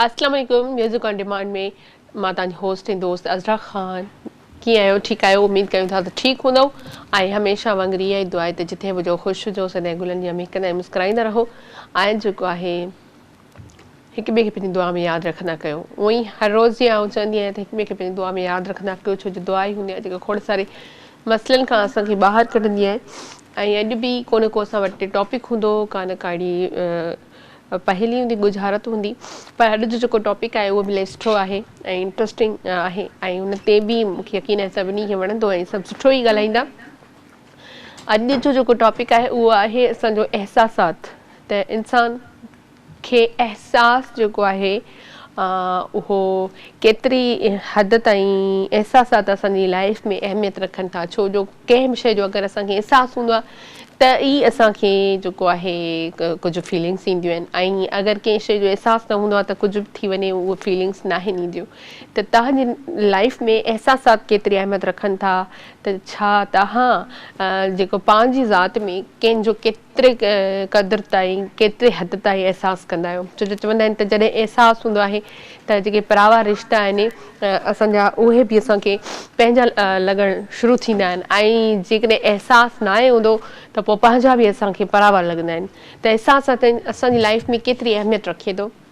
اسلام عليڪم music on demand ۾ مان تان جي هوسٽ ۽ دوست عزرا خان ڪيئن آهيو ٺيڪ آهيو اميد ڪيون ٿا ته ٺيڪ هوندو ۽ هميشه وانگر اها ئي دعا ته جتي به جو خوش هجو سدائين گلن جي مهڪندا ۽ مسڪرائيندا رهو ۽ جيڪو آهي هڪ ٻئي کي پنهنجي دعا ۾ ياد رکندا ڪيو اون ئي هر روز جي آئون چوندي آهيان ته هڪ ٻئي کي پنهنجي دعا ۾ ياد رکندا ڪيو ڇو جو دعا ئي هوندي آهي جيڪا کوڙ ساري مسئلن کان اسان کي ٻاهر ڪڍندي آهي ۽ اڄ به ڪو نه ڪو اسان وٽ ٽاپڪ هوندو ڪا نه ڪاڙي پهلي هوندي ڳجهارت هوندي پر اڄ جو جيڪو ٽاپڪ آهي اهو به ليسٺو آهي ۽ انٽرسٽنگ آهي ۽ ان تي به مون کي يقين آهي سڀني کي وڻندو ۽ سڀ سٺو ئي ڳالهائيندا اڄ جو جيڪو ٽاپڪ آهي اهو آهي اسان جو احساسات ته انسان کي احساس جيڪو آهي اهو ڪيتري حد تائين احساسات اسان جي لائف ۾ اهميت رکن ٿا ڇو جو ڪنهن به شيء جو اگر اسان کي احساس هوندو آهي ته ئي اسان کي جيڪو آهي ڪجهه فيلنگس اينديون آهن ۽ اگر ڪنهن شيء جو احساس نه هوندو آهي ته ڪجهه به ٿي وڃي اهي فيلنگس ناهن اينديون ته توهان جي لائف ۾ احساسات ڪيتري اهميت رکن ٿا ته ڇا توهان جيڪو پنهنجي ذات ۾ ڪنهن جو ڪيتري قدر تائين، ڪيتري حد تائين احساس ڪندا آهيو؟ ڇو جو چوندا آهن ته جڏهن احساس هوندو آهي ته جيڪي پراوا رشتا آهن اسان جا اهي به اسان کي پنهنجا لڳڻ شروع ٿيندا آهن ۽ جيڪڏهن احساس ناهي هوندو ته پوء پنهنجا به اسان کي پراوا لڳندا آهن ته احساس اسان جي لائيف ۾ ڪيتري اهميت رکي ٿو؟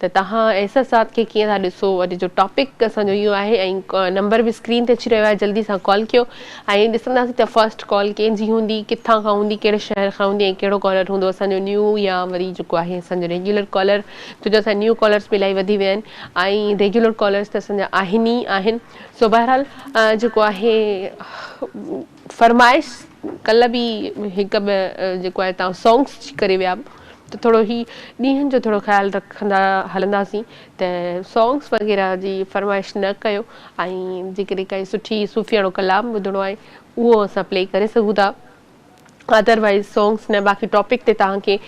ته توهان ايسر صاحب کي ڪيئن ٿا ڏسو اڄ جو ٽاپڪ اسان جو اهو آهي ۽ نمبر به اسڪرين تي اچي رهيو آهي جلدي سان ڪال ڪيو ۽ ڏسنداسين ته فرسٽ ڪال ڪنهن جي هوندي ڪٿان کان هوندي ڪهڙي شهر کان هوندي ۽ ڪهڙو ڪالر هوندو اسان جو نيو يا وري جيڪو آهي اسان جو ريگيولر ڪالر ڇو جو اسان نيو ڪالرس به الائي وڌي ويا آهن ۽ ريگيولر ڪالرس ته اسان جا آهن ئي آهن سو بهرحال جيڪو آهي فرمائش ڪلهه به هڪ ٻه جيڪو آهي تان سانگس جي ڪري ويا ته ٿورو هي ڏينهن جو ٿورو خيال رکندا هلنداسين ته سانگس وغيره جي فرمائش نه ڪيو ۽ جيڪڏهن ڪائي سٺي صوفياڻو ڪلام ٻڌڻو آهي اهو اسان پلي ڪري سگهون ٿا ادر وائز سانگس نه باقي ٽاپڪ تي توهان کي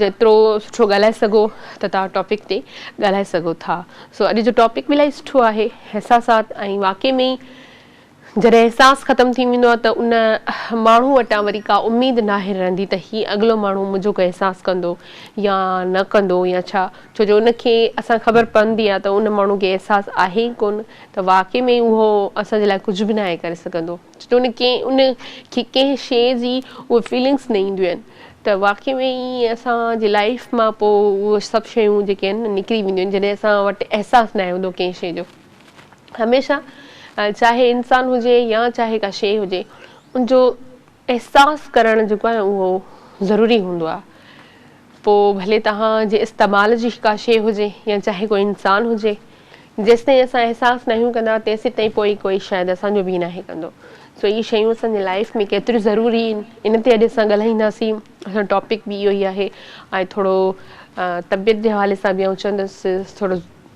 جيترو سٺو ڳالهائي سگهو ته توهان ٽاپڪ تي ڳالهائي سگهو ٿا سو اڄ جو ٽاپڪ به الاهي سٺو آهي احساسات ۽ واقعي ۾ ئي جڏهن احساس ختم ٿي ويندو آهي ته ان ماڻهو وٽان وري ڪا اميد ناهي رهندي ته هي اڳلو ماڻهو منهنجو ڪو احساس ڪندو يا نه ڪندو يا ڇا ڇو جو ان کي اسان خبر پوندي آهي ته ان ماڻهو کي احساس آهي ئي ڪونه ته واقعي ۾ اهو اسان جي لاء ڪجهه به ناهي ڪري سگهندو ڇو جو ان کي ان کي ڪنهن شيء جي اهي فيلنگس نه اينديون آهن ته واقعي ۾ ئي اسان جي لائيف مان پوء اهي سڀ شيون جيڪي آهن نڪري وينديون آهن جڏهن اسان وٽ احساس ناهي هوندو ڪنهن شيء جو. هميشه چاهي انسان هجي يا چاهي ڪا شيء هجي ان جو احساس ڪرڻ جيڪو آهي اهو ضروري هوندو آهي پوء ڀلي توهان جي استعمال جي ڪا شيء هجي يا چاهي ڪو انسان هجي جيستائين اسان احساس ناهيون ڪندا تيسين تائين پوء ڪوئي شايد اسان جو به ناهي ڪندو سو اهي شيون اسان جي لائف ۾ ڪيتريون ضروري آهن ان تي اڄ اسان ڳالهائينداسين اسان ٽاپڪ به اهو ئي آهي ۽ ٿورو طبيعت جي حوالي سان به آئون چوندس ٿورو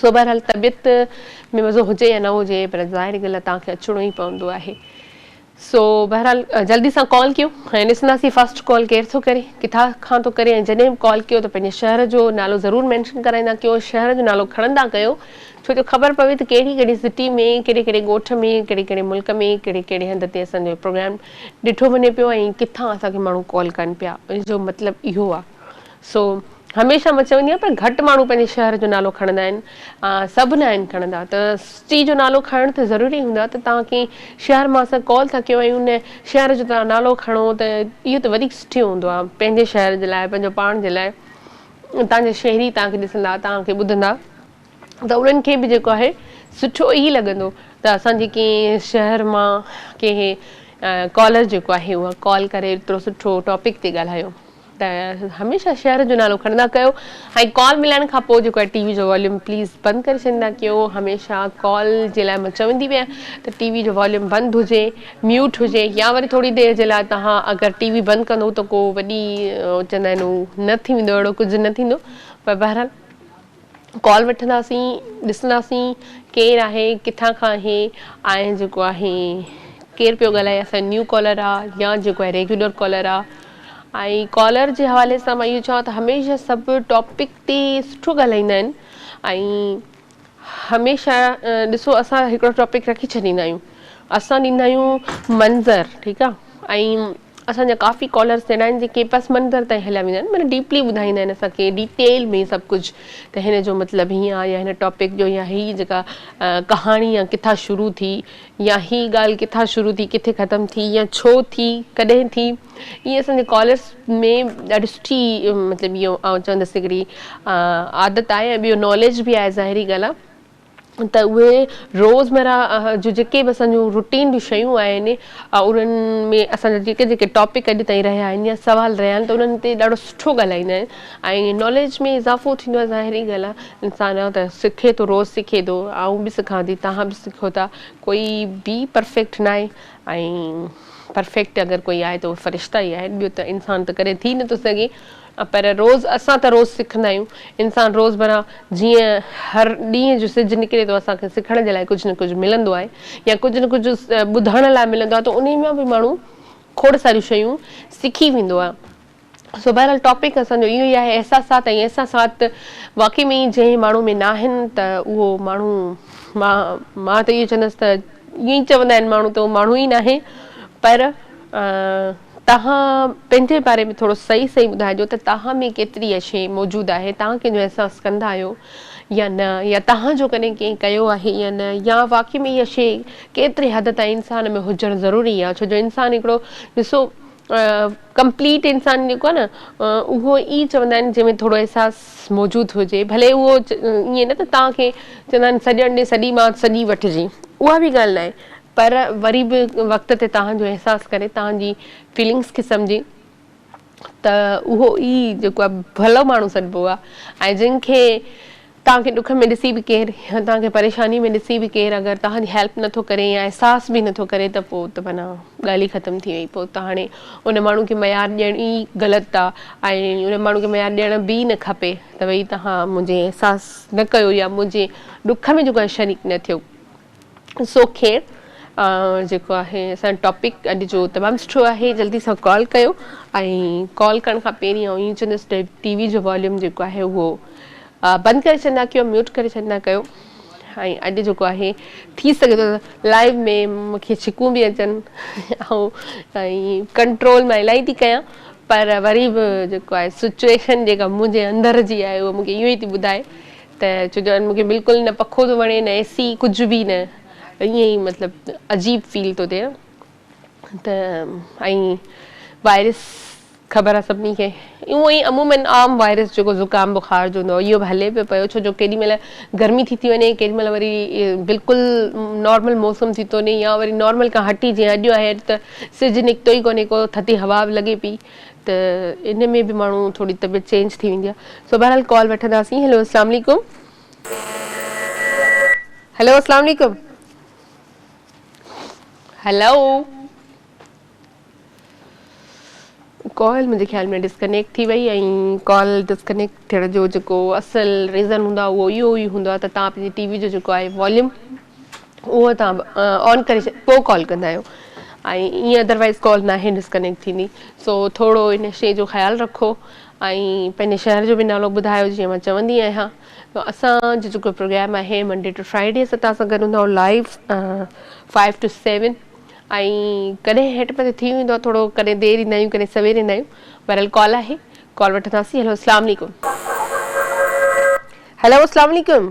سو بهرحال طبيعت ۾ مزو هجي يا نه هجي پر ظاهري ڳالهه توهان کي اچڻو ئي پوندو آهي. سو بهرحال جلدي سان ڪال ڪيو ۽ ڏسنداسين فرسٽ ڪال ڪير ٿو ڪري، ڪٿان کان ٿو ڪري ۽ جڏهن به ڪال ڪيو ته پنهنجي شهر جو نالو ضرور مينشن ڪرائيندا ڪيو ۽ شهر جو نالو کڻندا ڪيو ڇو جو خبر پوي ته ڪهڙي ڪهڙي سٽي ۾ ڪهڙي ڪهڙي ڳوٺ ۾ ڪهڙي ڪهڙي ملڪ ۾ ڪهڙي ڪهڙي هنڌ تي اسان جو پروگرام ڏٺو وڃي پيو ۽ ڪٿان اسان کي ماڻهو ڪال ڪن پيا ان جو مطلب اهو آ سو هميشه مان چوندي آهيان پر گهٽ ماڻهو پنهنجي شهر جو نالو کڻندا آهن سڀ نه آهن کڻندا ته سٽي جو نالو کڻڻ ته ضروري هوندو آهي ته توهان ڪنهن شهر مان اسان ڪال ٿا ڪيون ۽ ان شهر جو توهان نالو کڻو ته اهو ته وڌيڪ سٺيو هوندو آهي پنهنجي شهر جي لاء پنهنجو پاڻ جي لاء اتان جا شهري توهان کي ڏسندا توهان کي ٻڌندا ته انهن کي به جيڪو آهي سٺو ئي لڳندو ته اسان جي ڪنهن شهر مان ڪنهن ڪالر جيڪو آهي اها ڪال ڪري ايترو سٺو ٽاپڪ تي ڳالهايو ته هميشه شهر جو نالو کڻندا ڪيو ۽ ڪال ملائڻ کان پوء جيڪو آهي ٽي وي جو واليوم پليز بند ڪري ڇڏيندا ڪيو هميشه ڪال جي لاء مان چوندي به آهيان ته ٽي وي جو واليوم بند هجي ميوٽ هجي يا وري ٿوري دير جي لاء توهان اگر ٽي وي بند ڪندو ته ڪو وڏي چوندا آهن نه ٿي ويندو اهڙو ڪجهه نه ٿيندو پر بهرحال ڪال وٺنداسين ڏسنداسين ڪير آهي ڪٿان کان آهي ۽ جيڪو آهي ڪير پيو ڳالهائي اسان نيو ڪالر آ يا جيڪو آهي ريگيولر ڪالر آ ۽ ڪالر جي حوالي سان مان اهو چوان ته هميشه سڀ ٽاپڪ تي سٺو ڳالهائيندا آهن ۽ هميشه ڏسو اسان هڪڙو ٽاپڪ رکي ڇڏيندا آهيون اسان ڏيندا آهيون منظر ٺيڪ آ ۽ اسان جا ڪافي ڪالرز اهڙا آهن جيڪي پس منظر تائين هليا ويندا آهن مطلب ڊيپلي ٻڌائيندا آهن اسان کي ڊيٽيل ۾ سڀ ڪجهه ته هن جو مطلب هيئن آهي يا هن ٽاپڪ جو يا هي جيڪا ڪهاڻي يا ڪٿا شروع ٿي يا هي ڳالهه ڪٿا شروع ٿي ڪٿي ختم ٿي يا ڇو ٿي ڪڏهن ٿي ائين اسان جي ڪالرز ۾ ڏاڍي سٺي مطلب اهو آئون چوندس هڪڙي عادت آهي ۽ ٻيو ناليج به آهي ظاهري ڳالهه ته اهي روزمره جون جيڪي به اسان جون روٽين جون شيون آهن انهن ۾ اسان جا جيڪي جيڪي ٽاپڪ اڄ تائين رهيا آهن يا سوال رهيا آهن ته انهن تي ڏاڍو سٺو ڳالهائيندا آهن ۽ ناليج ۾ اضافو ٿيندو آهي ظاهري ڳالهه آهي انسان ته سکي ٿو روز سکي ٿو آئون به سکان ٿي توهان به سکو ٿا ڪوئي به پرفيڪٽ نه آهي ۽ پرفيڪٽ اگر ڪوئي آهي ته اهي فرشتا ئي آهن ٻيو ته انسان ته ڪڏهن ٿي نٿو سگهي پر روز اسان ته روز سکندا آهيون. انسان روزمره جيئن هر ڏينهن جو سج نڪري ٿو اسان کي سکڻ جي لاء ڪجهه نه ڪجهه ملندو آهي يا ڪجهه نه ڪجهه ٻڌڻ لاء ملندو آهي ته انهي مان به ماڻهو کوڙ ساريون شيون سکي ويندو آهي. سو بهرحال ٽاپڪ اسان جو اهو ئي آهي احساسات ۽ احساسات واقعي ۾ ئي جنهن ماڻهو ۾ ناهن ته اهو ماڻهو مان مان ته اهو چوندس ته ائين چوندا آهن ماڻهو ته اهو ماڻهو ئي ناهي پر توهان پنهنجي باري ۾ ٿورو صحيح صحيح ٻڌائجو ته توهان ۾ ڪيتري اها شيء موجود آهي، توهان ڪنهن جو احساس ڪندا آهيو يا نه يا توهان جو ڪڏهن ڪنهن ڪيو آهي يا نه يا واقعي ۾ اها شيء ڪيتري حد تائين انسان ۾ هجڻ ضروري آهي ڇو جو انسان هڪڙو ڏسو ڪمپليٽ انسان جيڪو آهي نه اهو ئي چوندا آهن جنهن ۾ ٿورو احساس موجود هجي ڀلي اهو ائين نه ته توهان کي چوندا آهن سڄڻ ڏي سڄي مان سڄي وٺجي اها به ڳالهه نه آهي پر وري به وقت تي توهان جو احساس ڪري توهان جي فيلنگس کي سمجهي ته اهو ئي جيڪو آهي ڀلو ماڻهو سڏبو آهي ۽ جن کي توهان کي ڏک ۾ ڏسي به ڪير يا توهان کي پريشاني ۾ ڏسي به ڪير اگر توهان جي هيلپ نه ٿو ڪري يا احساس به نه ٿو ڪري ته پوء ته معنيٰ ڳالهه ئي ختم ٿي وئي پوء ته هاڻي ان ماڻهو کي معيار ڏيڻ ئي غلط آهي ۽ ان ماڻهو کي معيار ڏيڻ به ئي نه کپي ته ڀئي توهان منهنجي احساس نه ڪيو يا منهنجي ڏک ۾ جيڪو آهي شريڪ نه ٿيو سو خير جيڪو آهي اسان ٽاپڪ اڄ جو تمام سٺو آهي جلدي سان ڪال ڪيو ۽ ڪال ڪرڻ کان پهرين آئون ائين چوندس ٽي وي جو واليوم جيڪو آهي اهو بند ڪري ڇڏندا ڪيو ميوٽ ڪري ڇڏندا ڪيو ۽ اڄ جيڪو آهي ٿي سگهي ٿو لائيو ۾ مونکي ڇڪون به اچن آئون ۽ ڪنٽرول مان الاهي ٿي ڪيان پر وري به جيڪو آهي سچويشن جيڪا منهنجي اندر جي آهي اهو مونکي اهو ئي ٿي ٻڌائي ته چو جان مون کي بلڪل نه پکو ٿو وڻي نه اي سي ڪجهه به نه ائين ئي مطلب عجيب فيل ٿو ٿئي ته ۽ وائرس خبر آهي سڀني کي اهو ئي عمومن عام وائرس جيڪو زڪام بخار جو هوندو اهو به هلي پيو پيو ڇو جو ڪيڏي مهل گرمي ٿي ٿي وڃي ڪيڏي مهل وري بلڪل نارمل موسم ٿي ٿو وڃي يا وري نارمل کان هٽي جيئن اڄ آهي اڄ ته سج نڪتو ئي ڪونهي ڪو ٿڌي هوا به لڳي پئي ته ان ۾ به ماڻهو ٿوري طبيعت چينج ٿي ويندي آ سو بهرحال ڪال وٺنداسين هلو اسلام عليڪم هلو اسلام عليڪم هلو ڪال منهنجي خيال ۾ ڊسڪنيڪٽ ٿي وئي ۽ ڪال ڊسڪنيڪٽ ٿيڻ جو جيڪو اصل ريزن هوندو آ اهو اهو ئي هوندو آ ته تان پنهنجي ٽي وي جو جيڪو آهي واليوم اهو تهان آن ڪري پو ڪال ڪندا آهيو ۽ ايئن ادروائز ڪال ناهي ڊسڪنيڪٽ ٿيندي سو ٿورو ان شي جو خيال رکو ۽ پنهنجي شهر جو به نالو ٻڌايو جيئن مان چوندي آهيان اسان جو جيڪو پروگرام آهي منڊي ٽو فرائيڊي اسان تان سان گڏ هوندا آهيون لائيو فائيو ٽو سيون ۽ ڪڏهن هيٺ مٿي ٿي ويندو آهي ٿورو ڪڏهن دير ايندا آهيون ڪڏهن سوير ايندا آهيون بهرحال ڪال آهي ڪال وٺنداسين هلو السلام عليڪم هلو السلام عليڪم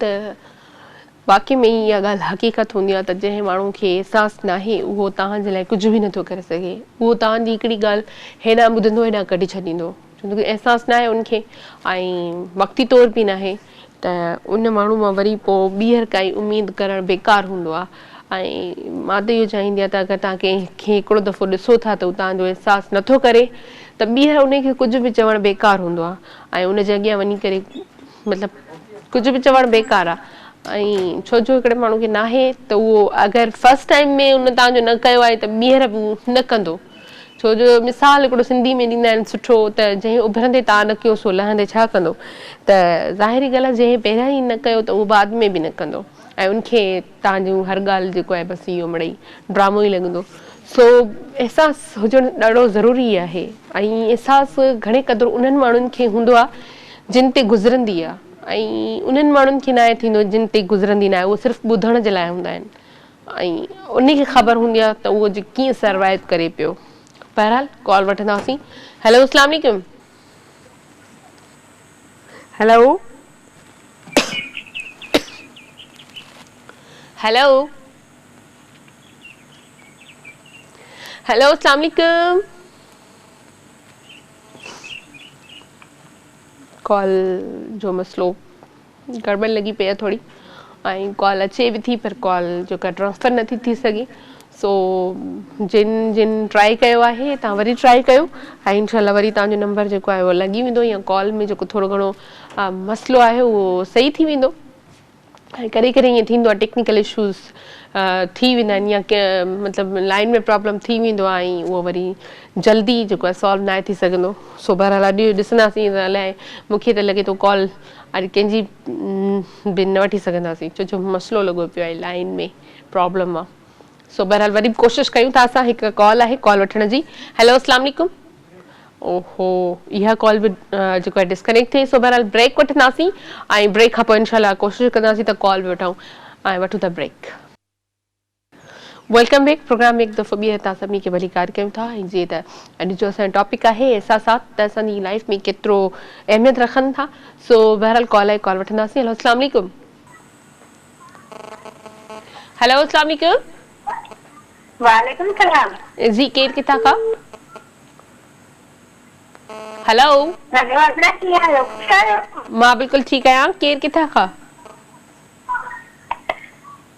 ته واقعي ۾ ئي اها ڳالهه حقيقت هوندي آهي ته جنهن ماڻهو کي احساس ناهي اهو توهان جي لاء ڪجهه به نٿو ڪري سگهي. اهو توهان جي هڪڙي ڳالهه هيڏانهن ٻڌندو هيڏانهن ڪڍي ڇڏيندو. ڇو ته احساس ناهي ان کي ۽ وقتي طور به ناهي ته ان ماڻهو مان وري پوء ٻيهر ڪائي اميد ڪرڻ بيڪار هوندو آهي ۽ مان ته اهو چاهيندي آهيان ته اگر توهان ڪنهن کي هڪڙو دفعو ڏسو ٿا ته هو توهان جو احساس نٿو ڪري ته ٻيهر ان کي ڪجهه به چوڻ بيڪار هوندو آهي ۽ ان جي اڳيان وڃي ڪري مطلب ڪجهه به چوڻ بيڪار آ ۽ ڇو جو هڪڙي ماڻهو کي ناهي ته اهو اگر فرسٽ ٽائيم ۾ ان تان جو نه ڪيو آهي ته ٻيهر به نه ڪندو ڇو جو مثال هڪڙو سنڌي ۾ ڏيندا آهن سٺو ته جنهن اڀرندي تان نه ڪيو سو لهندي ڇا ڪندو ته ظاهري ڳالهه آ جنهن پهريان ئي نه ڪيو ته اهو بعد ۾ به نه ڪندو ۽ ان کي تان جون هر ڳالهه جيڪو آهي بس اهو مڙئي ڊرامو ئي لڳندو سو احساس هجڻ ڏاڍو ضروري آهي ۽ احساس گهڻي قدر انهن ماڻهن کي هوندو آهي جن تي گذرندي آهي ۽ انهن ماڻهن کي ناهي ٿيندو جن تي گذرندي ناهي اهي صرف ٻڌڻ جي لاء هوندا آهن ۽ انهي کي خبر هوندي آهي ته اهو جي ڪيئن سروائيو ڪري پيو بهرحال ڪال وٺنداسين هيلو اسلام عليڪم. هيلو هيلو هيلو اسلام عليڪم ڪال جو مسئلو گڙٻڙ لڳي پئي آهي ٿوري ۽ ڪال اچي به ٿي پر ڪال جيڪا ٽرانسفر نٿي ٿي سگهي سو جن جن ٽرائي ڪيو آهي تان وري ٽرائي ڪيو ۽ انشاء الله وري تان جو نمبر جيڪو آهي اهو لڳي ويندو يا ڪال ۾ جيڪو ٿورو گهڻو مسئلو آهي اهو صحيح ٿي ويندو ۽ ڪڏهن ڪڏهن ائين ٿيندو آهي ٽيڪنيڪل اشوز ٿي ويندا آهن يا مطلب لائن ۾ پرابلم ٿي ويندو آهي ۽ اهو وري جلدي جيڪو آهي سالو ناهي ٿي سگهندو سو بهرحال اڄ ڏسنداسين الائي مونکي ته لڳي ٿو ڪال اڄ ڪنهن جي به نه وٺي سگهنداسين ڇو جو مسئلو لڳو پيو آهي لائين ۾ پرابلم آ سو بهرحال وري به ڪوشش ڪيون ٿا اسان هڪ ڪال آهي ڪال وٺڻ جي هيلو اسلام عليڪم اوهو اها ڪال به جيڪو آهي ڊسڪنيڪٽ ٿي سو بهرحال بريڪ وٺنداسين ۽ بريڪ کان پوء انشاءالله ڪوشش ڪنداسين ته ڪال به وٺون ۽ وٺون ٿا بريڪ ويلڪم بيڪ پروگرام ۾ هڪ دفعو ٻيهر توهان سڀني کي ڀليڪار ڪيون ٿا ۽ جيئن ته اڄ جو اسان جو ٽاپڪ آهي احساسات ته اسان جي لائف ۾ ڪيترو اهميت رکن ٿا سو بهرحال ڪال آهي ڪال وٺنداسين هلو السلام عليڪم هلو السلام عليڪم وعليڪم السلام جي ڪير ڪٿا کان هلو هلو ابرا ڪي آهيو خوش آهيو مان بلڪل ٺيڪ آهيان ڪير ڪٿا کان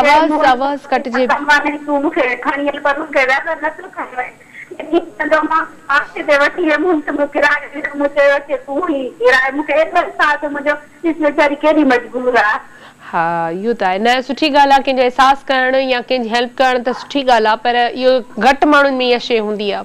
آواز آواز ڪٽجي. ها اهو ته آهي نه سٺي ڳالهه آهي ڪنهنجو احساس ڪرڻ يا ڪنهنجي هيلپ ڪرڻ ته سٺي ڳالهه آهي پر اهو گهٽ ماڻهن ۾ اها شيء هوندي آهي.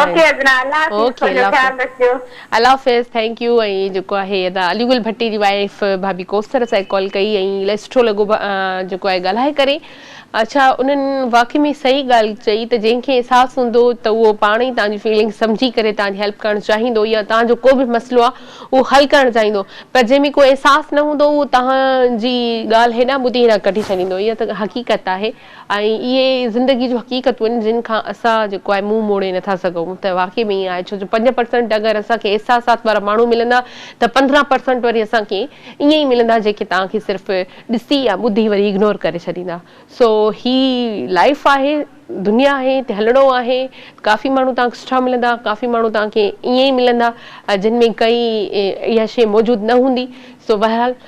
اوڪي ادنا الله حافظ اوڪي پنهنجو الله خيال حافظ رکجو. الله حافظ ٿينڪ يو ۽ جيڪو آهي ادا علي گل ڀٽي جي وائف ڀاڀي ڪوثر اسان کي ڪال ڪئي ۽ الائي سٺو لڳو ڀا جيڪو آهي ڳالهائي ڪري اڇا انهن واقعي ۾ صحيح ڳالهه چئي ته جنهن کي احساس هوندو ته اهو پاڻ ئي تهنجي فيلنگ سمجهي ڪري تهنجي هيلپ ڪرڻ چاهيندو يا تهنجو ڪو به مسئلو آهي اهو حل ڪرڻ چاهيندو پر جنهن ۾ ڪو احساس نه هوندو اهو تهنجي ڳالهه هيڏانهن ٻڌي هيڏانهن ڪڍي ڇڏيندو اها ته حقيقت آهي. ۽ اهي زندگي جون حقيقتون آهن جن کان اسان جيڪو آهي منهن موڙي نٿا سگهون ته واقعي ۾ ائين آهي ڇو جو پنج پرسنٽ اگر اسان کي احساسات وارا ماڻهو ملندا ته پندرهن پرسنٽ وري اسان کي ائين ئي ملندا جيڪي توهان کي صرف ڏسي يا ٻڌي وري اگنور ڪري ڇڏيندا سو هي لائيف آهي دنيا آهي هتي هلڻو آهي ڪافي ماڻهو توهان کي سٺا ملندا ڪافي ماڻهو توهان کي ائين ئي ملندا جن ۾ ڪئي اها شيء موجود نه هوندي سو بهرحال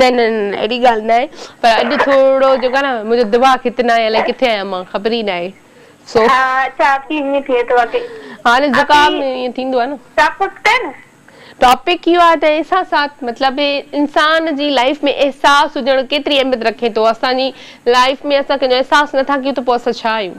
نه نه نه اهڙي ڳالهه نه آهي پر اڄ ٿورڙو جيڪو آهي نه منهنجو دماغ هت نه آهي الائي ڪٿي آهيان مان خبر ئي نه آهي سو ها اچا ڪي ائين ٿئي ٿو اڪي هاڻي اڪي زڪام ۾ ائين ٿيندو آهي نه ٽاپڪ ڪئي نه ٽاپڪ اهو آهي ته احساسات مطلب انسان جي لائف ۾ احساس هجڻ ڪيتري اهميت رکي ٿو اسان جي لائف ۾ اسان ڪنهن جو احساس نٿا ڪيون ته پوء اسان ڇا آهيون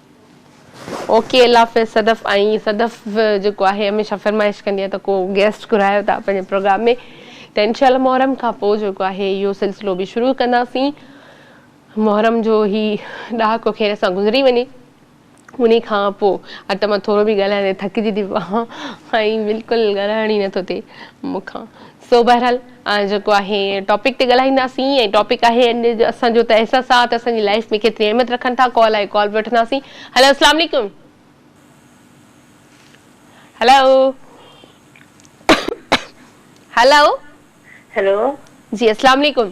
اوڪي الله حافظ صدف ۽ صدف جيڪو آهي هميشه فرمائش ڪندي آهي ته ڪو گيسٽ گهرايو تها پنهنجي پروگرام ۾ ته انشاء الله محرم کان پوء جيڪو آهي اهو سلسلو به شروع ڪنداسين محرم جو هي ڏهاڪو خير سان گذري وڃي انهي کان پوء اٽ مان ٿورو به ڳالهائيندي ٿڪجي ٿي پوان ۽ بلڪل ڳالهائڻ ئي نٿو ٿئي مون کان سو بهرحال جيڪو آهي ٽاپڪ تي ڳالهائينداسين ۽ ٽاپڪ آهي اڄ جو اسان جو ته احساسات اسان جي لائيف ۾ ڪيتري اهميت رکن ٿا ڪال آهي ڪال به وٺنداسين هلو اسلام عليڪم هلو هلو هلو جي اسلام عليڪم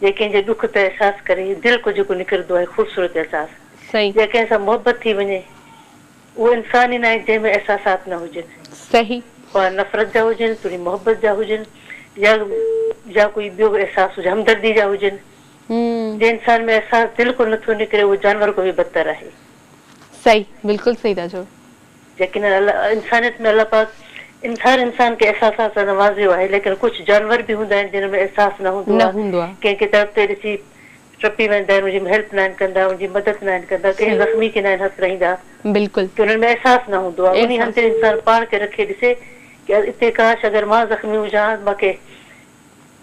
جي ڪنهن جي ڏک تي احساس ڪري دل ڪو جيڪو نکردو آهي خوبصورت احساس صحيح. جي ڪنهن سان محبت ٿي وڃي اهو انسان ئي ناهي جنهن ۾ احساسات نه هجن صحيح. خواه نفرت جا هجن توڙي محبت جا هجن يا يا ڪوئي ٻيو به احساس هجن همدردي جا هجن مم. جي انسان ۾ احساس دل ڪو نٿو نڪري اهو جانور ڪو به بدتر آهي. صحيح بلڪل صحيح ٿا چئو. يقيناً الله انسانيت ۾ الله پاڪ ان هر انسان کي احساسات سان نوازيو آهي ليڪن ڪجهه جانور به هوندا آهن جنهن ۾ احساس نه هوندو نه آهي هوندو آهي. ڪنهن کي تڙپتي ڏسي ٽپي ويندا آهن ان جي هيلپ ناهن ڪندا ان جي مدد ناهن ڪندا ڪنهن صحيح زخمي کي ناهن هٿ رهيندا بلڪل ڪي انهن ۾ احساس نه هوندو آهي انهي هنڌ احساس تي انسان پاڻ کي رکي ڏسي ڪي اتي ڪاش اگر مان زخمي هجان ها ته مونکي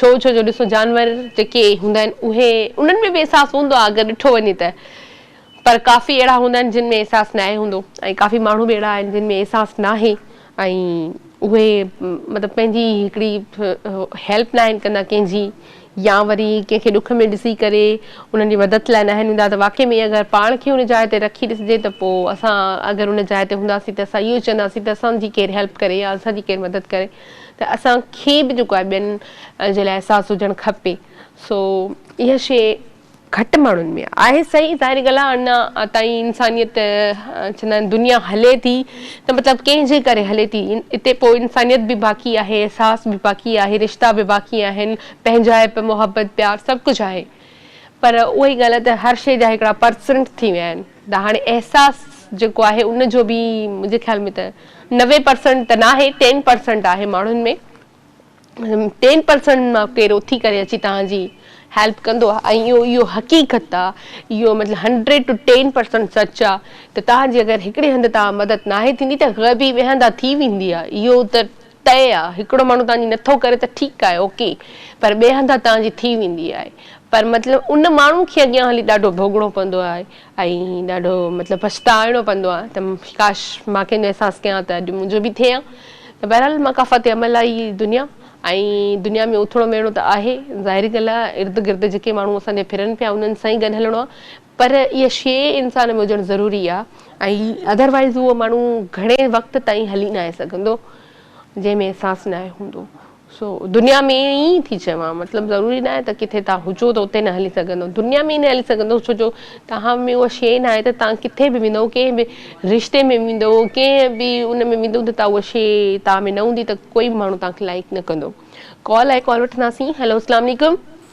ڇو ڇو جو ڏسو جانور جيڪي هوندا آهن اهي انهن ۾ به احساس هوندو آهي اگر ڏٺو وڃي ته پر ڪافي اهڙا هوندا آهن جن ۾ احساس ناهي هوندو ۽ ڪافي ماڻهو به اهڙا آهن جن ۾ احساس ناهي ۽ اهي مطلب پنهنجي هڪڙي هيلپ ناهن ڪندا ڪنهن جي يا وري ڪنهن کي ڏک ۾ ڏسي ڪري انهن جي مدد لاء ناهن ايندا ته واقعي ۾ اگر پاڻ کي ان جاء تي رکي ڏسجي ته پوء اسان اگر ان جاء تي هونداسين ته اسان اهو چونداسين ته اسان جي ڪير هيلپ ڪري يا اسان جي ڪير مدد ڪري ته اسان کي به جيڪو آهي ٻين جي لاء احساس هجڻ کپي سو اها شيء گهٽ ماڻهن ۾ آهي صحيح ظاهري ڳالهه آهي اڃا تائين انسانيت چوندا آهن دنيا هلي ٿي ته مطلب ڪنهن جي ڪري هلي ٿي اتي پوء انسانيت به باقي آهي احساس به باقي آهي رشتا به باقي آهن پنهنجائپ محبت پيار سڀ ڪجهه آهي پر اهي ڳالهه ته هر شيء جا هڪڙا پرسنٽ ٿي ويا آهن ته هاڻي احساس جيڪو آهي ان جو به منهنجي خيال ۾ ته نوي پرسنٽ ته ناهي ٽين پرسنٽ آهي ماڻهن ۾ ٽين پرسنٽ مان ڪير اٿي ڪري اچي توهان جي هيلپ ڪندو ۽ اهو اهو حقيقت آهي اهو مطلب هنڊريڊ ٽو ٽين پرسنٽ سچ آهي ته توهان جي اگر هڪڙي هنڌ تان مدد ناهي ٿيندي ته غيبي ويهندا ٿي ويندي آهي اهو ته طئي آ هڪڙو ماڻهو تهانجي نٿو ڪري ته ٺيڪ آهي اوڪي پر ٻئي هنڌان تهانجي ٿي ويندي آهي پر مطلب ان ماڻهو کي اڳيان هلي ڏاڍو ڀوڳڻو پوندو آهي ۽ ڏاڍو مطلب پڇتائڻو پوندو آهي ته ڪاش مان ڪنهنجو احساس ڪيان ته اڄ منهنجو به ٿئي ها ته بهرحال مقافات عمل آهي هي دنيا ۽ دنيا ۾ اوٿوڙو مهڻو ته آهي ظاهري ڳالهه آهي ارد گرد جيڪي ماڻهو اسان جي ڦرن پيا انهن سان ئي گڏ هلڻو آهي پر اها شيء انسان ۾ هجڻ ضروري آهي ۽ اڌر وائيز اهو ماڻهو گهڻي وقت تائين هلي ناهي سگهندو جنهن ۾ احساس ناهي هوندو سو دنيا ۾ ائين ئي ٿي چوان مطلب ضروري ناهي ته ڪٿي تان هجو ته اتي نه هلي سگهندو دنيا ۾ ئي نه هلي سگهندو ڇو جو توهان ۾ اها شيء ناهي ته توهان ڪٿي به ويندو ڪنهن به رشتي ۾ ويندو ڪنهن به ان ۾ ويندو ته توهان اها شيء توهان ۾ نه هوندي ته ڪوئي به ماڻهو توهان کي لائڪ نه ڪندو ڪال آهي ڪال وٺنداسين هيلو اسلام عليڪم.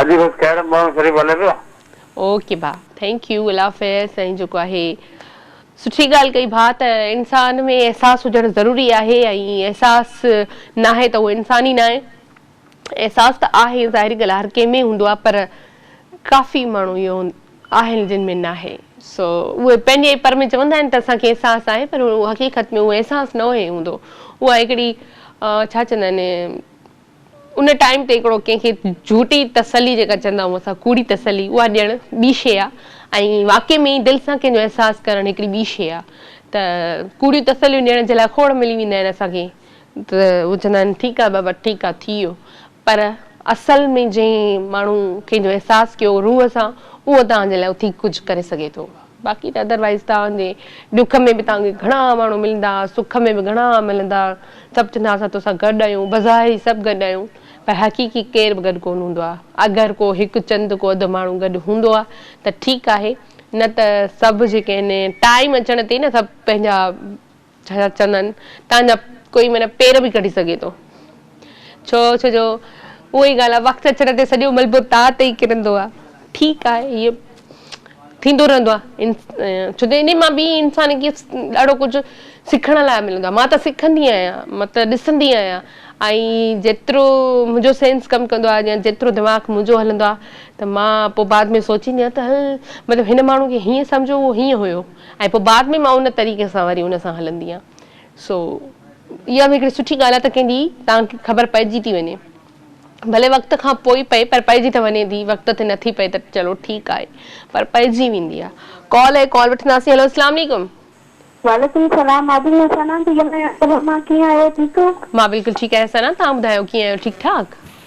اڄ بس کهڙن ٻهڙن شريف هلي پيو. اوڪي ڀاء ٿينڪ يو الله حافظ سائين جيڪو آهي سٺي ڳالهه ڪئي ڀاء ته انسان ۾ احساس هجڻ ضروري آهي ۽ احساس ناهي ته اهو انسان ئي ناهي احساس ته آهي ظاهري ڳالهه هر ڪنهن ۾ هوندو آهي پر ڪافي ماڻهو اهو آهن جن ۾ ناهي سو اهي پنهنجي پر ۾ چوندا آهن ته اسان کي احساس آهي پر حقيقت ۾ اهو احساس نه هوندو اها هڪڙي ڇا چوندا آهن ان ٽائيم تي هڪڙو ڪنهن کي جهوٽي تسلي جيڪا چوندا آهيون اسان ڪوڙي تسلي اها ڏيڻ ٻي شيء آهي ۽ واقعي ۾ ئي دل سان ڪنهن جو احساس ڪرڻ هڪڙي ٻي شيء آهي ته ڪوڙيون تسليون ڏيڻ جي لاء کوڙ ملي ويندا آهن اسان کي ته هو چوندا آهن ٺيڪ آهي بابا ٺيڪ آهي ٿي ويو پر اصل ۾ جنهن ماڻهو ڪنهن جو احساس ڪيو روح سان اهو توهان جي لاء اٿي ڪجهه ڪري سگهي ٿو. باقي ته ادر وائيز توهان جي ڏک ۾ به توهان کي گهڻا ماڻهو ملندا، سک ۾ به گهڻا ملندا، سڀ چوندا اسان تو سان گڏ آهيون، بظاهر سڀ گڏ آهيون پر حقيقي ڪير به گڏ ڪونه هوندو آهي، اگر ڪو هڪ چند ڪو اڌ ماڻهو گڏ هوندو آهي ته ٺيڪ آهي نه ته سڀ جيڪي آهن ٽائيم اچڻ تي نه سڀ پنهنجا ڇا چندن تان جا ڪوئي معنيٰ پير به ڪڍي سگهي ٿو. ڇو ڇو جو اهو ئي ڳالهه آهي وقت اچڻ تي سڄو ملبو تان تي ئي ڪرندو آهي. ٺيڪ آهي اهو ٿيندو رهندو آهي ڇو جو انهي مان به انسان کي ڏاڍو ڪجهه سکڻ لاء ملندو آهي مان ته سکندي آهيان مان ته ڏسندي آهيان ۽ جيترو منهنجو سينس ڪم ڪندو آهي يا جيترو دماغ منهنجو هلندو آهي ته مان پوء بعد ۾ سوچيندي آهيان ته هل مطلب هن ماڻهو کي هيئن سمجهو اهو هيئن هيو ۽ پوء بعد ۾ مان ان طريقي سان وري ان سان هلندي آهيان سو اها به هڪڙي سٺي ڳالهه آهي ته ڪنهن ڏي توهان کي خبر پئجي ٿي وڃي ڀلي وقت کان پوء پئي پر پئجي ته وڃي ٿي وقت تي نٿي پئي ته چلو ٺيڪ آهي پر پئجي ويندي آهي ڪال آهي ڪال وٺنداسين هلو اسلام عليڪم. وعليڪم السلام مان به ائين سنا ٿي ڳالهايان تون ڀلا ڪيئن آهيو ٺيڪ آهيو. مان بلڪل ٺيڪ آهيان سنا توهان ٻڌايو ڪيئن آهيو ٺيڪ ٺاڪ.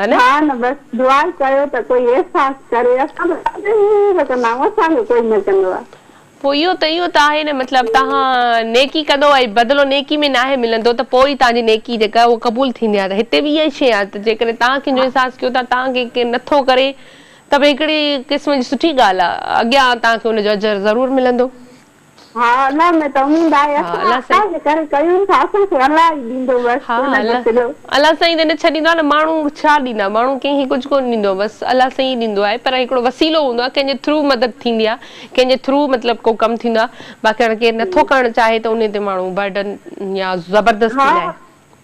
ها نه؟ ها نه بس دعا ڪيو ته ڪوئي احساس ڪري اسان به ڏاڍي ته ڪندا آهيون اسان کي ڪوئي نه ڪندو آهي. پوء اهو ته اهو ته آهي نه مطلب تهان نيڪي ڪندو ۽ بدلو نيڪي ۾ ناهي ملندو ته پوء ئي تهان جي نيڪي جيڪا اهو قبول ٿيندي آهي ته هتي به اها ئي شيء آهي ته جيڪڏهن تهان ڪنهن جو احساس ڪيو ٿا تهان کي ڪير نه ٿو ڪري ته به هڪڙي قسم جي سٺي ڳالهه آهي اڳيان تهان کي ان جو اجر ضرور ملندو. ها الله ۾ ته اميد آهي ها اسان الله سائين الله جي ڪري ڪيون ٿا اسان کي الله ئي ڏيندو بس ڪو نه ڏس جو الاھ سائين جڏھن ڇڏيندو آ نه ماڻھو ڇا ڏيندا ماڻھو ڪنھن کي ڪجھ ڪونھ ڏيندو بس الله سائين ئي ڏيندو آھي پر ھڪڙو وسيلو ھوندو آ ڪنھن جي ٿرو مدد ٿيندي آ ڪنھن جي ٿرو مطلب ڪو ڪم ٿيندو آ باقي ھاڻي ڪير نٿو ڪرڻ چاھي ته ان تي ماڻھو برڊن يا زبردستي لاء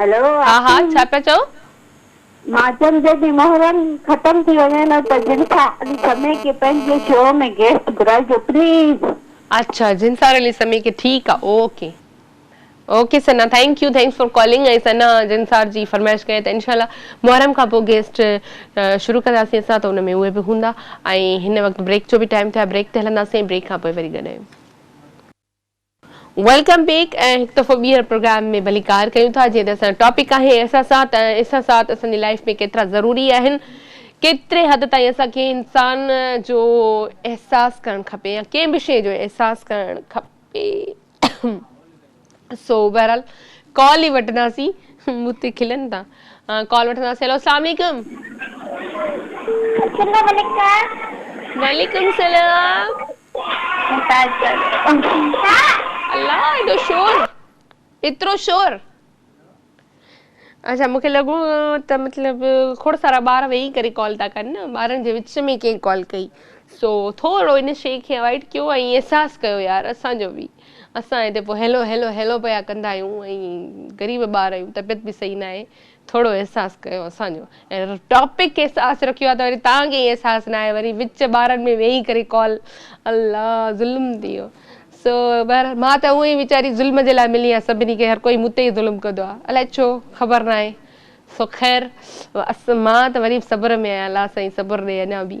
هلو ها ها آفرين ڇا پيا چئو؟ ماچن جي ڏينهن محرم ختم ٿي وڃي ها ته جنسار علي سمي کي پنهنجي شو ۾ گيسٽ گهرائجو پليز. اڇا جنسار علي سمي کي ٺيڪ آ okay. Okay Sana thank you thanks for calling ۽ Sana جنسار جي فرمائش ڪئي ته انشاء الله محرم کان پوء گيسٽ شروع ڪنداسين اسان ته ان ۾ اهي به هوندا ۽ هن وقت بريڪ جو به ٽائيم ٿيو آهي بريڪ تي هلنداسين ۽ بريڪ کان پوء وري گڏ آهيون. ويلڪم بيڪ ۽ هڪ دفعو ٻيهر پروگرام ۾ ڀليڪار ڪيون ٿا جيئن ته اسان جو ٽاپڪ آهي احساسات ۽ احساسات اسان جي لائيف ۾ ڪيترا ضروري آهن ڪيتري حد تائين اسان کي انسان جو احساس ڪرڻ کپي يا ڪنهن به شيء جو احساس ڪرڻ کپي سو بهرحال ڪال ئي وٺنداسين مون تي کلن ٿا ڪال وٺنداسين هيلو السلام عليڪم السلام عليڪم وعليڪم السلام الله ايڏو شور ايترو شور اچھا مونکي لڳو ته مطلب کڙ سارا ٻار ويهي ڪري ڪال ٿا ڪن نه ٻارن جي وچ ۾ ڪيئن ڪال ڪئي سو ٿورو ان شيء کي اوائڊ ڪيو ۽ احساس ڪيو يار اسان جو به اسان هتي پوء هيلو هيلو هيلو پيا ڪندا آهيون ۽ غريب ٻار آهيون طبيعت به صحيح ناهي ٿورو احساس ڪيو اسان جو ۽ ٽاپڪ کي احساس رکيو آهي ته وري تان کي احساس ناهي وري وچ ٻارن ۾ ويهي ڪري ڪال الله ظلم ٿي ويو سو بهر مان ته اونئي ويچاري ظلم جي لاء ملي آهيان سڀني کي هر ڪوئي مون تي ئي ظلم ڪندو آهي الائي ڇو خبر ناهي سو خير مان ته وري به صبر ۾ آهيان الله سائين صبر ڏي اڃا به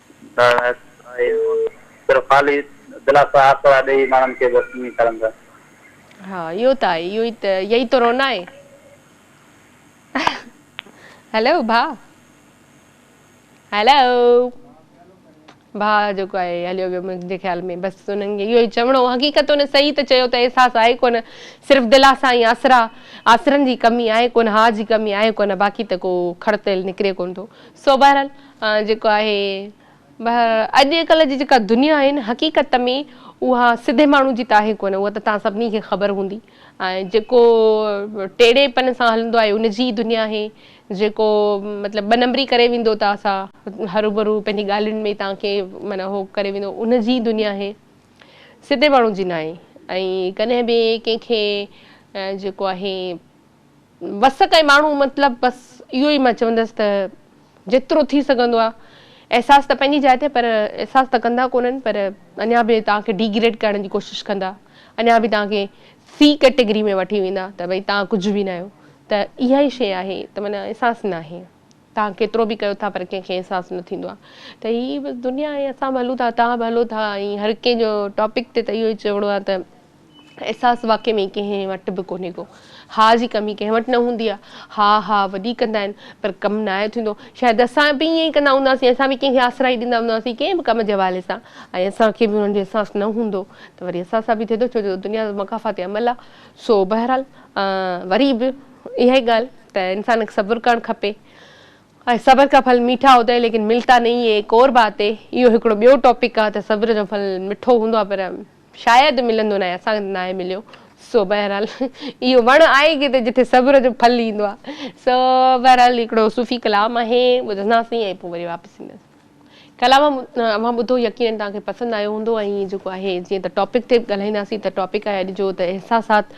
صرف خالي دلاسا آسرا ڏيئي ماڻهن کي بس ائين ڪرندا. ها اهو ته آهي اهو ئي ته يهي تو رونا آهي. هلو ڀاء هلو ڀاء جيڪو آهي هليو ويو منهنجي خيال ۾ بس انهن کي اهو ئي چوڻو حقيقت انهن صحيح ته چيو ته احساس آهي ڪونه صرف دلاسا ۽ آسرا آسرن جي ڪمي آهي ڪونه هاء جي ڪمي آهي ڪونه باقي ته ڪو کڙ تيل نڪري ڪونه ٿو سو بهرحال جيڪو آهي بهر اڄ ڪلهه جي جيڪا دنيا آهي نه حقيقت ۾ اها سڌي ماڻهو جي ته آهي ڪونه اها ته توهان سڀني کي خبر هوندي ۽ جيڪو ٽيڙي پن سان هلندو آهي ان جي دنيا آهي جيڪو مطلب ٻه نمبري ڪري ويندو ته اسان هروبرو پنهنجي ڳالهين ۾ توهان کي معنيٰ هو ڪري ويندو ان جي دنيا آهي سڌي ماڻهو جي ناهي ۽ ڪڏهن به ڪنهن کي جيڪو آهي وس ڪئين ماڻهو مطلب بس اهو ئي مان چوندس ته جيترو ٿي سگهندو آ احساس ته پنهنجي جاء تي پر احساس ته ڪندا ڪونهن پر اڃا به توهان کي ڊيگريڊ ڪرڻ جي ڪوشش ڪندا اڃا به توهان کي سي ڪيٽيگري ۾ وٺي ويندا ته ڀئي توهان ڪجهه به ناهيو ته اها ئي شيء آهي ته معنيٰ احساس ناهي توهان ڪيترو به ڪيو ٿا پر ڪنهن کي احساس نه ٿيندو آهي ته هي بس دنيا آهي اسان به هلون ٿا توهان به هلو ٿا ۽ هر ڪنهن جو ٽاپڪ تي ته اهو ئي چوڻو آهي ته احساس واقعي ۾ ڪنهن وٽ به ڪونهي ڪو ها جي ڪمي ڪنهن وٽ نه هوندي آهي ها ها وڏي ڪندا آهن پر ڪم ناهي ٿيندو شايد اسان به ائين ئي ڪندا هونداسين اسان به ڪنهن کي آسرائي ڏيندا هونداسين ڪنهن به ڪم جي حوالي سان ۽ اسان کي به انهن جو احساس نه هوندو ته وري اسان سان به ٿئي ٿو ڇو جو دنيا مڪافات عمل آهي سو بهرحال وري به اها ئي ڳالهه ته انسان کي صبر ڪرڻ کپي ۽ صبر ڪا ڦل ميٺا هوتا هي ليڪن ملتا نهين هي ايڪ اور بات هي اهو هڪڙو ٻيو ٽاپڪ آهي ته صبر جو ڦل مٺو هوندو آهي پر شايد ملندو ناهي اسان کي ناهي مليو سو بهرحال اهو وڻ آهي ڪٿي جتي صبر جو ڦل ايندو آهي سو بهرحال هڪڙو صوفي ڪلام آهي ٻڌنداسين ۽ پوء وري واپس اينداسين ڪلام اوهان ٻڌو يقينن توهان کي پسند آيو هوندو ۽ هي جيڪو آهي جيئن ته ٽاپڪ تي ڳالهائينداسين ته ٽاپڪ آهي اڄ جو ته احساسات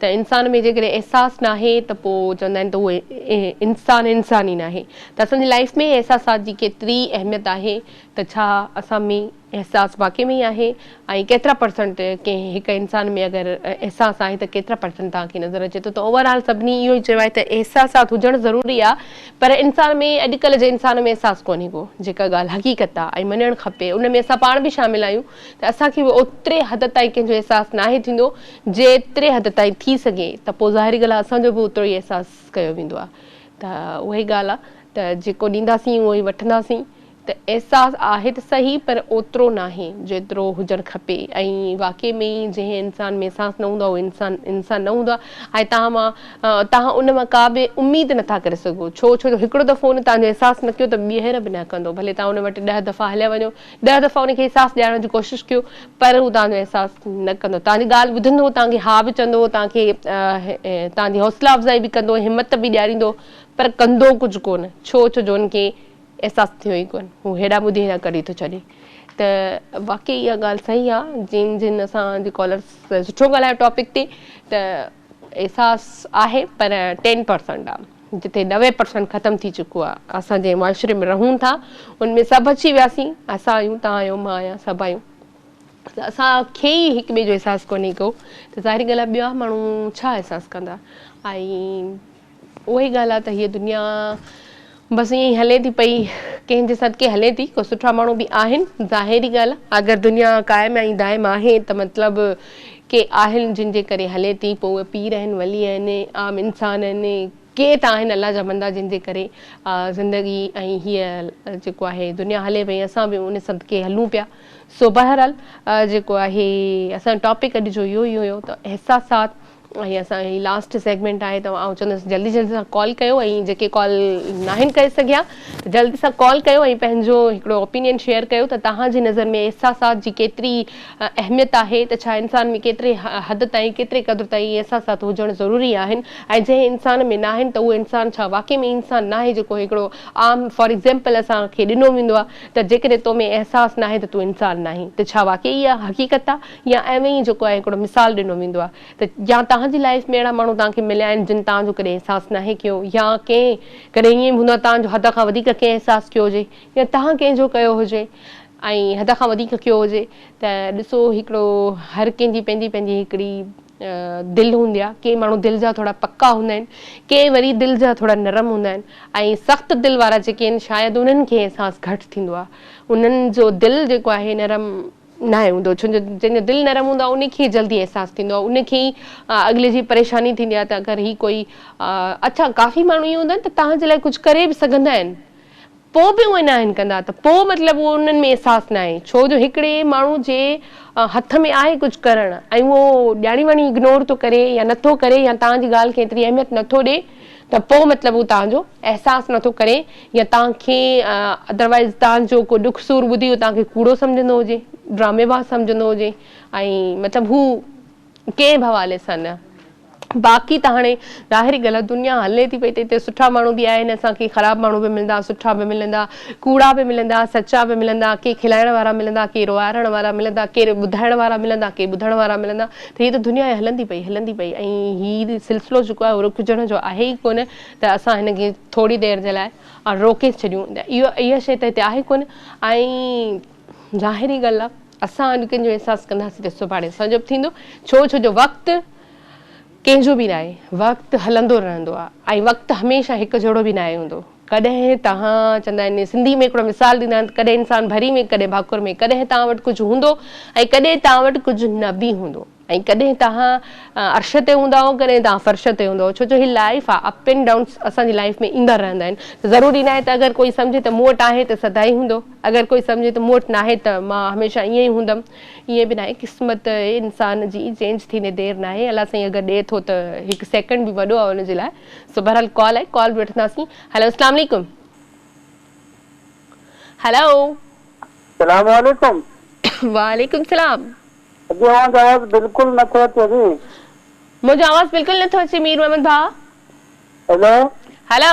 ته انسان ۾ جيڪڏهن احساس ناهي ته پوء چوندا آهن ته اهو انسان انسان ئي ناهي ته اسان جي لائف ۾ احساسات جي ڪيتري اهميت آهي ته ڇا اسان ۾ احساس واقعي ۾ ئي آهي ۽ ڪيترا پرسنٽ ڪنهن هڪ انسان ۾ اگر احساس آهي ته ڪيترا پرسنٽ توهان کي نظر اچي ٿو ته اوور آل سڀني اهو ئي چيو آهي ته احساسات هجڻ ضروري آهي پر انسان ۾ اڄڪلهه جي انسان ۾ احساس ڪونهي ڪو جيڪا ڳالهه حقيقت آهي ۽ مڃڻ کپي ان ۾ اسان پاڻ به شامل آهيون ته اسان کي به اوتري حد تائين ڪنهن جو احساس ناهي ٿيندو جيتري حد تائين ٿي سگهي ته پوء ظاهري ڳالهه آهي اسان جو به اوترو ئي احساس ڪيو ويندو آهي ته اهي ڳالهه آهي ته جيڪو ڏينداسين اهو ئي وٺنداسين ته احساس آهي ته سهي پر اوترو ناهي جيترو هجڻ کپي ۽ واقعي ۾ ئي جنهن انسان ۾ احساس نه هوندو آهي اهو انسان انسان نه هوندو آهي ۽ توهان مان توهان ان مان ڪا به اميد نه ٿا ڪري سگهو ڇو ڇو جو هڪڙو دفعو ان توهان جو احساس نه ڪيو ته ٻيهر به نه ڪندو ڀلي توهان ان وٽ ڏهه دفعا هليا وڃو ڏهه دفعا ان کي احساس ڏيارڻ جي ڪوشش ڪيو پر هو توهان جو احساس نه ڪندو توهان جي ڳالهه ٻڌندو توهان کي ها به چوندو توهان کي توهان جي حوصلا افزائي به ڪندو همت به ڏياريندو پر ڪندو ڪجهه ڪونه ڇو ڇو جو ان کي احساس ٿيو ئي ڪونه هو هيڏانهن ٻڌي هيڏانهن ڪڍي ٿو ڇڏي ته واقعي اها ڳالهه صحيح آ جن جن اسان جي ڪالرس سٺو ڳالهايو ٽاپڪ تي ته احساس آهي پر ٽين پرسنٽ آ جتي نوي پرسنٽ ختم ٿي چڪو آ اسان جنهن معاشري ۾ رهون ٿا ان ۾ سڀ اچي وياسين اسان آهيون تان آهيو مان آهيان سڀ آهيون ته اسان کي ئي هڪ ٻئي جو احساس ڪونهي ڪو ته ظاهري ڳالهه آ ٻيا ماڻهو ڇا احساس ڪندا ۽ اها ئي ڳالهه آهي ته هيء دنيا بس ائين ئي هلي ٿي پئي، ڪنهن جي صدقي هلي ٿي، ڪو سٺا ماڻهو به آهن، ظاهري ڳالهه آهي. اگر دنيا قائم ۽ دائم آهي ته مطلب ڪي آهن جن جي ڪري هلي ٿي، پوء اهي پير آهن، ولي آهن، عام انسان آهن، ڪي ته آهن الله جا بندا جن جي ڪري زندگي ۽ هيء جيڪو آهي دنيا هلي پئي، اسان به ان صدقي هلون پيا. سو بهرحال جيڪو آهي اسان جو ٽاپڪ اڄ جو اهو ئي هيو ته احساسات هي اسان جي لاسٽ سيگمينٽ آهي ته آئون چوندس جلدي جلدي سان ڪال ڪيو ۽ جيڪي ڪال ناهن ڪري سگهيا ته جلدي سان ڪال ڪيو ۽ پنهنجو هڪڙو اوپينين شيئر ڪيو ته توهان جي نظر ۾ احساسات جي ڪيتري اهميت آهي ته ڇا انسان ۾ ڪيتري حد تائين ڪيتري قدر تائين احساسات هجڻ ضروري آهن ۽ جنهن انسان ۾ ناهن ته اهو انسان ڇا واقعي ۾ انسان ناهي جيڪو هڪڙو عام فار ايگزيمپل اسان کي ڏنو ويندو آهي ته جيڪڏهن تو ۾ احساس ناهي ته تون انسان ناهين ته ڇا واقعي اها حقيقت آهي يا ايوين ئي جيڪو آهي هڪڙو مثال ڏنو ويندو آهي ته يا توهان جي لائيف ۾ اهڙا ماڻهو توهان کي مليا آهن جن توهان جو ڪڏهن احساس ناهي ڪيو يا ڪنهن ڪڏهن ائين به هوندو آهي توهان جو حد کان وڌيڪ ڪنهن احساس ڪيو هجي يا توهان ڪنهن جو ڪيو هجي ۽ حد کان وڌيڪ ڪيو هجي ته ڏسو هڪڙو هر ڪنهن جي پنهنجي پنهنجي هڪڙي دل هوندي آهي ڪي ماڻهو دل جا ٿورا پڪا هوندا آهن ڪي وري دل جا ٿورا نرم هوندا آهن ۽ سخت دل وارا جيڪي آهن شايد انهن کي احساس گهٽ ٿيندو آهي انهن جو دل جيڪو آهي نرم ناهي هوندو ڇو جو جنهن جو دل نرم هوندو آهي ان کي جلدي احساس ٿيندو آهي ان کي ئي اڳلي جي پريشاني ٿيندي آهي ته اگر هي ڪوئي اڇا ڪافي ماڻهو ائين هوندا آهن ته توهان جي لاء ڪجهه ڪري به سگهندا آهن پوء به اهي ناهن ڪندا ته پوء مطلب اهو انهن ۾ احساس ناهي ڇو جو هڪڙي ماڻهو جي هٿ ۾ آهي ڪجهه ڪرڻ ۽ اهو ڄاڻي واڻي اگنور ٿو ڪري يا نٿو ڪري يا توهان جي ڳالهه کي ايتري اهميت نٿو ڏي ته پوء مطلب هو توهان جو احساس نه ٿو ڪري يا توهان کي Otherwise توهان جو ڪو ڏک سور ٻڌي هو توهان کي ڪوڙو سمجهندو هجي، ڊرامي باز سمجهندو هجي ۽ مطلب هو ڪنهن به حوالي سان نه. باقي ته هاڻي ظاهري ڳالهه آهي دنيا هلي ٿي پئي ته هتي سٺا ماڻهو به آهن اسان کي خراب ماڻهو به ملندا سٺا به ملندا. ڪوڙا به ملندا، سچا به ملندا، ڪي کلائڻ وارا ملندا، ڪي روئارڻ وارا ملندا، ڪي ٻڌائڻ وارا ملندا، ڪي ٻڌڻ وارا ملندا ته هيء ته دنيا هلندي پئي، هلندي پئي ۽ هي سلسلو جيڪو آهي اهو رڪجڻ جو آهي ئي ڪونه ته اسان هن کي ٿوري دير جي لاء روڪي ڇڏيون ته اهو اها شيء ته هتي آهي ڪونه ۽ ظاهري ڳالهه آهي اسان اڄ ڪنهن جو احساس ڪنداسين ته سڀاڻي اسان جو به ٿيندو ڇو ڇو جو وقت ڪنهن جو به ناهي، وقت هلندو رهندو آهي ۽ وقت هميشه هڪ جهڙو به ناهي هوندو. ڪڏهن توهان چوندا آهن، سنڌي ۾ هڪڙو مثال ڏيندا آهن ته ڪڏهن انسان ڀري ۾ ڪڏهن ڀاڪر ۾ ڪڏهن توهان وٽ ڪجهه هوندو ۽ ڪڏهن توهان وٽ ڪجهه نه به هوندو ۽ ڪڏهن توهان عرش تي هوندا آهو ڪڏهن توهان فرش تي هوندا آهو ڇو جو هي لائيف آهي اپ اينڊ ڊائونس اسان جي لائيف ۾ ايندا رهندا آهن ته ضروري ناهي ته اگر ڪوئي سمجهي ته مون وٽ آهي ته سدائين هوندو اگر ڪوئي سمجهي ته مون وٽ ناهي ته مان هميشه ائين ئي هوندم ائين به ناهي قسمت انسان جي چينج ٿيندي دير ناهي الله سائين اگر ڏي ٿو ته هڪ سيڪنڊ به وڏو آهي ان جي لاء سو بهرحال ڪال آهي ڪال به وٺنداسين هلو اسلام عليڪم هلو اسلام عليڪم وعليڪم سلام اڄ اوهان جو آواز بلڪل نه ٿو اچي جي منهنجو آواز بلڪل نه ٿو اچي مير محمد ڀاء هلو هلو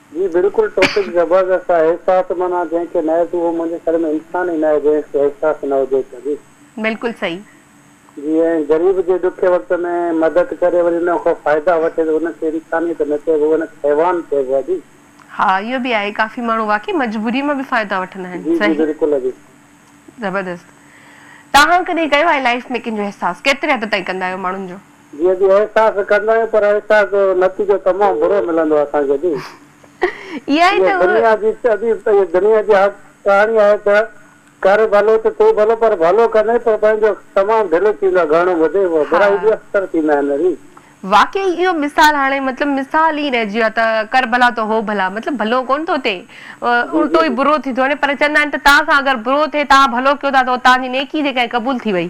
جي بلڪل ٽوپڪ زبردست آهي احساس معنيٰ جنهن کي ناهي ٿي اهو منهنجي خيال ۾ انسان ئي ناهي جنهن کي احساس نه هجي ته جي. بلڪل صحيح. جي ۽ غريب جي ڏکي وقت ۾ مدد ڪري وري ان کان فائدا وٺي ته ان کي انسانيت نه چئبو اهو ان کي حيوان چئبو آهي جي. ها اهو به آهي ڪافي ماڻهو واقعي مجبوري مان به فائدا وٺندا آهن جي جي صحيح. بلڪل جي. زبردست توهان ڪڏهن ڪيو آهي لائيف ۾ ڪنهن جو احساس ڪيتري حد تائين ڪندا آهيو ماڻهن جو. جيئن به احساس ڪندا آهيون پر احساس جو نتيجو تمام برو ملندو آهي اسان کي جي اها ئي ته دنيا جي ادي اهي دنيا جي حق ڪهاڻي آهي ته ڪر ڀلو ته ٿي ڀلو پر ڀلو ڪندي پر پنهنجو تمام ڍلو ٿيندو آهي گهڻو ٻڌي هو برائي به اڪثر ٿيندا آهن ري. واقعي اهو مثال هاڻي مطلب مثال ئي رهجي ويو آهي ته ڪر ڀلا ته هو ڀلا مطلب ڀلو ڪونه ٿو ٿئي الٽو ئي برو ٿي ٿو وڃي پر چوندا آهن ته توهان سان اگر برو ٿئي توهان ڀلو ڪيو ٿا ته توهان جي نيڪي جيڪا آهي قبول ٿي وئي.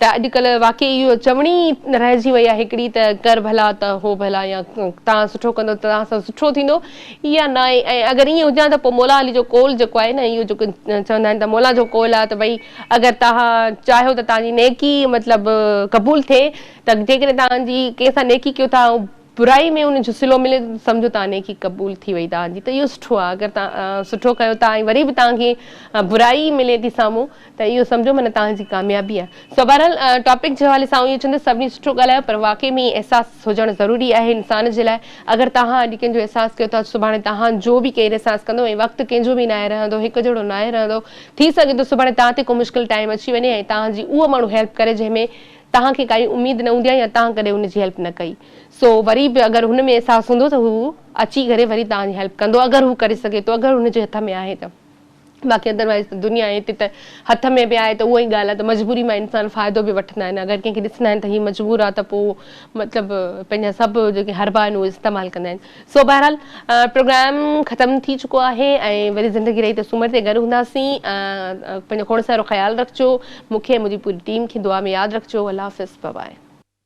ته اڄڪلهه واقعي اهو چوڻي ئي رهجي وئي آهي هڪڙي ته ڪر ڀلا ته هو ڀلا يا توهان سٺو ڪندو ته توهان سان سٺو ٿيندو اها ناهي ۽ اگر ائين هجان ته پوء مولا علي جو قول جيڪو آهي نه اهو جيڪو چوندا آهن ته مولا جو قول آهي ته ڀئي اگر توهان چاهيو ته توهان جي نيڪي مطلب قبول ٿئي ته جيڪڏهن توهان جي ڪنهن سان نيڪي ڪيو ٿا برائي ۾ ان جو صلو ملي ٿو ته سمجهو ته نيڪي قبول ٿي وئي توهان جي ته اهو سٺو آهي اگر توهان سٺو ڪيو ٿا ۽ وري به توهان کي برائي ملي ٿي سامهون ته اهو سمجهو معنيٰ توهان جي ڪاميابي آهي سو بهرحال ٽاپڪ جي حوالي سان آئون اهو چوندس سڀني سٺو ڳالهايو پر واقعي ۾ احساس هجڻ ضروري آهي انسان جي لاء اگر توهان اڄ ڪنهن جو احساس ڪيو ٿا سڀاڻي توهان جو به ڪير احساس ڪندو ۽ وقت ڪنهن جو به ناهي رهندو هڪ جهڙو ناهي رهندو ٿي سگهي ٿو سڀاڻي توهان تي ڪو مشڪل ٽائيم اچي وڃي ۽ توهان جي اهو ماڻهو هيلپ ڪري جنهن ۾ توهان کي ڪائي اميد نه هوندي ۽ توهان ڪڏهن هن جي هيلپ نه ڪئي سو وري به اگر هن ۾ احساس هوندو ته هو اچي ڪري وري توهان جي هيلپ ڪندو اگر هو ڪري سگهي ٿو اگر هن جي هٿ ۾ آهي ته باقي ادروائز ته دنيا ائين ٿي ته هٿ ۾ به آهي ته اها ئي ڳالهه آهي ته مجبوري مان انسان فائدو به وٺندا آهن اگر ڪنهن کي ڏسندا آهن ته هي مجبور آهي ته پوء مطلب پنهنجا سڀ جيڪي حربا آهن اهي استعمال ڪندا آهن. سو بهرحال پروگرام ختم ٿي چڪو آهي ۽ وري زندگي رهي ته سومر تي گڏ هونداسين پنهنجو کوڙ سارو خيال رکجو مون کي ۽ منهنجي پوري ٽيم کي دعا ۾ ياد رکجو الله حافظ بابائي.